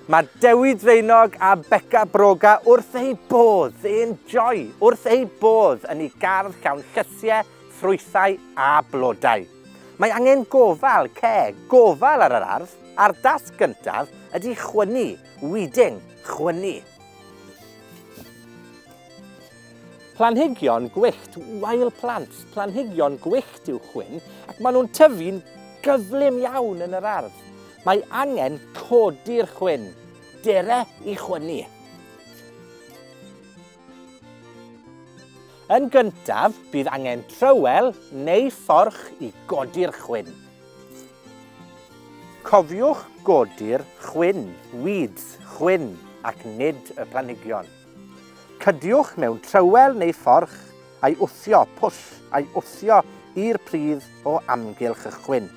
Mae Dewi Draenog a Beca Broga wrth eu bodd, they enjoy, wrth eu bodd yn ei gardd llawn llysiau, ffrwythau a blodau. Mae angen gofal, care, gofal ar yr ardd, a'r dasg gyntaf ydy chwynnu, weeding, chwynnu. Planhigion gwyllt, wild plants, planhigion gwyllt yw chwyn, ac maen nhw'n tyfu'n gyflym iawn yn yr ardd. Mae angen codi'r chwyn. Dere i chwynnu. Yn gyntaf, bydd angen trywel neu fforch i godi'r chwyn. Cofiwch godi'r chwyn, weeds, chwyn, ac nid y planhigion. Cydiwch mewn trywel neu fforch a'i wthio, push, a'i wthio i'r pridd o amgylch y chwyn.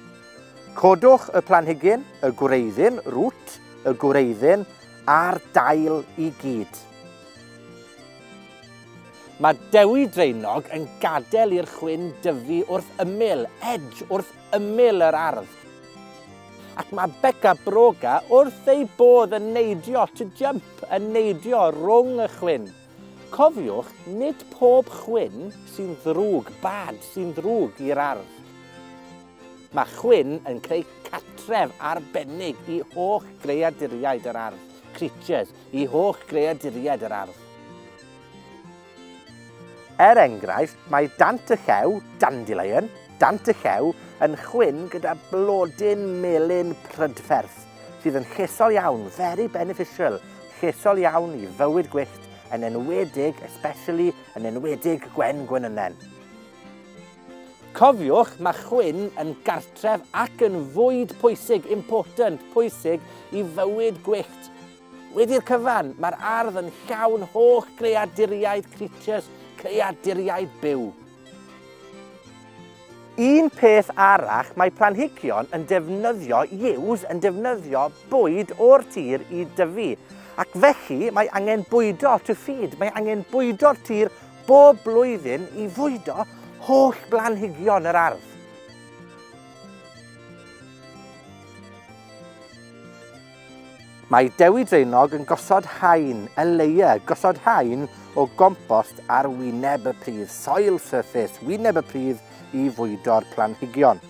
Codwch y planhigyn, y gwreiddyn, root, y gwreiddyn a'r dail i gyd. Mae dewi draenog yn gadael i'r chwyn dyfu wrth ymyl, edge, wrth ymyl yr ardd. Ac mae Beca Broga wrth ei bodd yn neidio to jump, yn neidio rhwng y chwyn. Cofiwch, nid pob chwyn sy'n ddrwg, bad, sy'n ddrwg i'r ardd. Mae chwyn yn creu catref arbennig i holl greaduriaid yr ardd, creatures, i holl greaduriaid yr ardd. Er enghraifft, mae dant y llew, dandelion, dant y llew, yn chwyn gyda blodyn melyn prydferth, sydd yn llesol iawn, very beneficial, llesol iawn i fywyd gwyllt, yn enwedig, especially, yn enwedig gwen gwenynen. Cofiwch, mae chwyn yn gartref ac yn fwyd pwysig, important, pwysig, i fywyd gwyllt. Wedi'r cyfan, mae'r ardd yn llawn holl greaduriaid creatures, creaduriaid byw. Un peth arall, mae planhigion yn defnyddio yews yn defnyddio bwyd o'r tir i dyfu, ac felly mae angen bwydo to feed, mae angen bwydo'r tir bob blwyddyn i fwydo holl blanhigion yr ardd. Mae Dewi Draenog yn gosod haen, a leia, gosod haen o gompost ar wyneb y pridd, soil surface, wyneb y pridd i fwydo'r planhigion.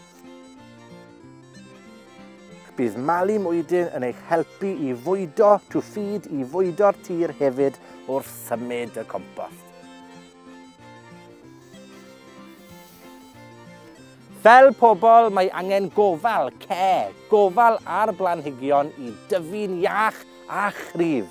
Bydd malu mwydyn yn eich helpu i fwydo, to feed, i fwydo'r tir hefyd wrth symud y compost. Fel pobl, mae angen gofal, care, gofal ar blanhigion i dyfu'n iach a chryf.